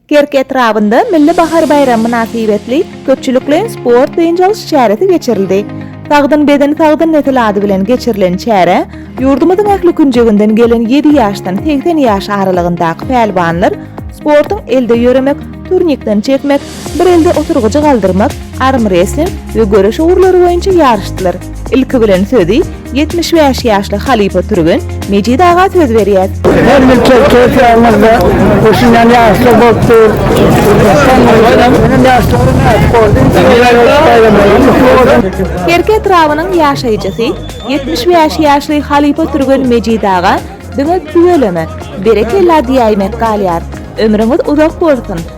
Kerki etrabynda Milli bahar baýramy mynasybetli köpçülikleýin sport-dynç alyş çäresi geçirildi. Sagdyn beden, sagdyn nesil ady bilen geçirilen çärä ýurdumyzyň ähli künjeginden gelen ýedi ýaşdan segsen ýaş aralygyndaky pälwanlar sportuň elde ýöremek, turnikden çekmek, Bir elde oturgyjy galdyrmak, armresling we göreş ugurlary boýunça ýaryşdylar. Ilki bilen sözi ýetmiş bäş ýaşly halypa türgen Mejit aga söz berýär. Her ýyl Çerkez ýaýymyzda gurşunýan ýaryşlar bolup dur. Soňundan ýaryşlara nädip boldum? Şeýle baýramlaryň gutly bolsun! Serke etrabynyň ýaşaýjysy, ýetmiş bäş ýaşly halypa türgen Mejit aga diňe tüweleme, berekella diýäýmek galýar. Ömrüňiz uzak bolsun!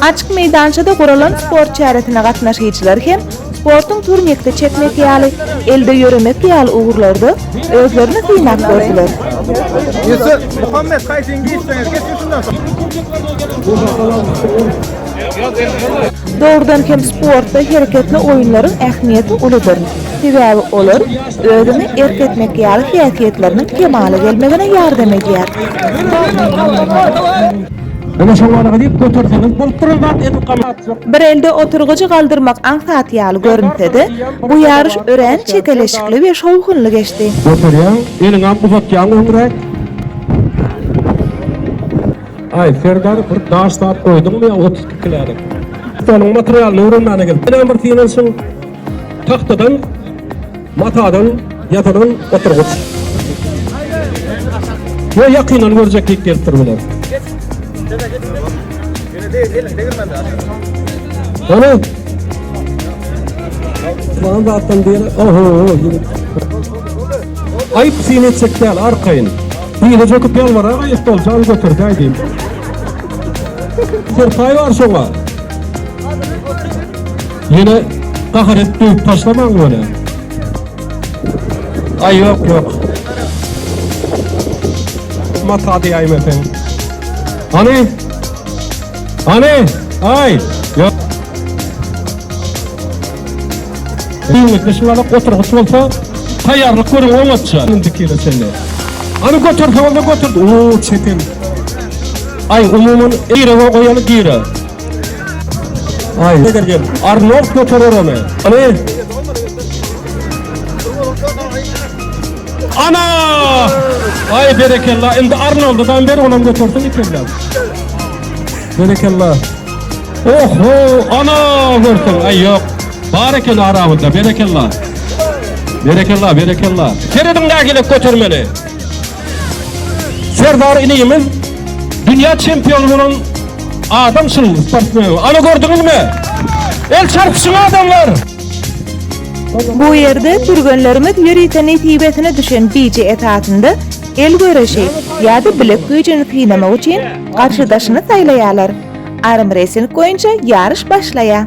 Açyk meýdançada guralan sport çäresine gatnaşyjylar hem Sportuň turniki çekmek ýaly, elde ýöremek ýaly ugurlarda özlerini synap gördüler. Ýusuf, Muhammet haýsyny geýseňiz geçiň şundan soň. Dogrudan hem sportda hereketli oýunlaryň ähmiýeti uludyr. Sebäbi olar özüňi erk etmek ýaly häsiýetleriniň kemala gelmegine ýardam edýär. Ine şowalga diýip göterseňiz bolup duran zat edil gamat. Bir elde oturgyjy galdyrmak aňsat ýaly görünse-de, bu ýaryş örän çekeleşikli we şowhunly geçdi. Göterýäň, eliňem uzatýaň öňräk. Aý, Serdar, bir daş zat goýduňmy ýa otuz iki kilälik? Stoluň materialyny öwrenmäne gelip, ýene bir synanyşyň. Tagtadan. Matadan ýasalan oturgyç. Ýo ýakyndan görjeklik gelip dur biler. Ana. Bana da atdan diýen. Oho. Aýyp seni etjek däl arkaýyn. Diýle jöküp ýalbara gaýyp bol jan götür diýdim. Serpaý bar şoňa. Ýene gahar edip döwüp taşlamaň bolä. Aý ýok ýok. Mata diýäýme sen. Hany? Hany? Aý ýok. Düýnlikli şuňada oturgyç bolsa, taýýarlyk görüň oňatça. Indi kile çenli. Ony götürse onda götür. Uuu çetin. Ay umuman eýre goýany gire. Ay ne derken Arnold göterer onu. Hani? Ana! Ay berekella. Şimdi Arnold'u ben ver olam götürsün ikimden. Berekella. Oho! Ana! Görsün. Ay yok. Barekella arabında. Berekella. Berekella, berekella. Seredin daha gelip götürmeli. Serdar inimiz dünýä çempiony bolan adamçyl sportmen. Ana gördüňizmi? El çarpyşyň adamlar! Bu ýerde türgenlerimiz ýörite nesibesine düşen bije esasynda el göreşi ýa-da bilek güýjüni synamak üçin garşydaşyny saýlaýarlar. Armresling boýunça ýaryş başlaýar.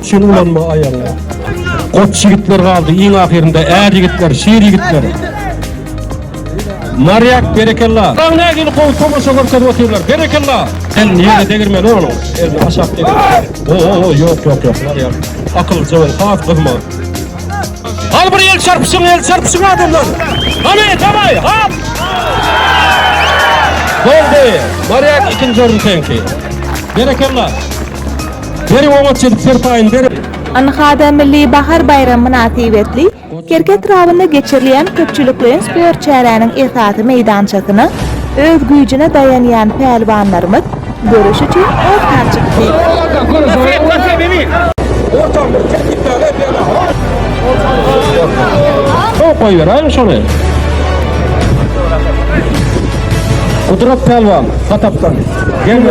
Üçin ulanma aýagyňa. Goç ýigitler galdy, iň ahyrynda är ýigitler, şir ýigitler. Marýak, berekella. Daň nägili gowy tomaşa görkezip otyrlar. Berekella. Sen ýere degirmeli onuň. Elini aşak degirmeli. O, o, o, ýok, ýok, ýok. Marýak, akyljy bol, has gyzma. Hal bir el çarpışyň, el çarpışyň adamlar. Hany, tamay, hap! Boldy, Maryak ikinci orun senki. Berekella. Beri oňa çedip serpayın, beri. Anhada Milli Bahar Bayram Münasibetli, Kerki etrabynda geçirilýän köpçülikleýin sport çäräniň esasy meýdançasyna öz güýjüne daýanýan pälwanlarymyz Görüş üçin ortaçyk klik. Sow goýber aým şony. Gudrat Pälwan Hatapdan. Gelme.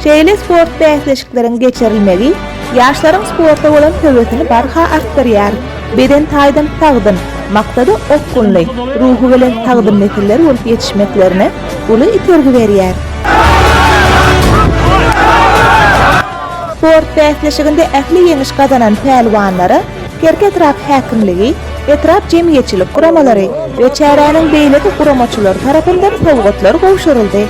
Şeýle sport bäsleşikleriň geçirilmegi ýaşlaryň sporta bolan höwesini barha artdyrýar. Beden taýdan sagdyn, maksada okgunly, ruhubelent sagdyn nesiller bolup ýetişmeklerine uly itergi berýär. Sport bäsleşiginde ähli ýeňiş gazanan pälwanlara Kerki etrap häkimligi, etrap jemgyýetçilik guramalary we çäräniň beýleki guramaçylary tarapyndan sowgatlar gowşuryldy.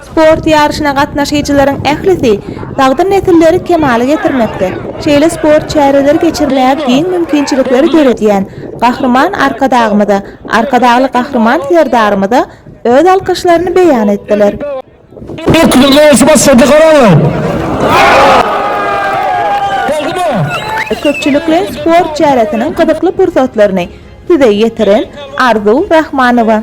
Sport ýaryşyna gatnaşyjylaryň ählisi sagdyn nesilleri kemala getirmekde, şeýle sport çäreleri geçirmäge giň mümkinçilikleri döredýän Gahryman Arkadagymyza, Arkadagly Gahryman Serdarymyza öz alkyşlaryny beýan etdiler. Köpçülikleýin sport çäresiniň gyzykly pursatlaryny Size ýetiren, Arzuw Rahmanowa.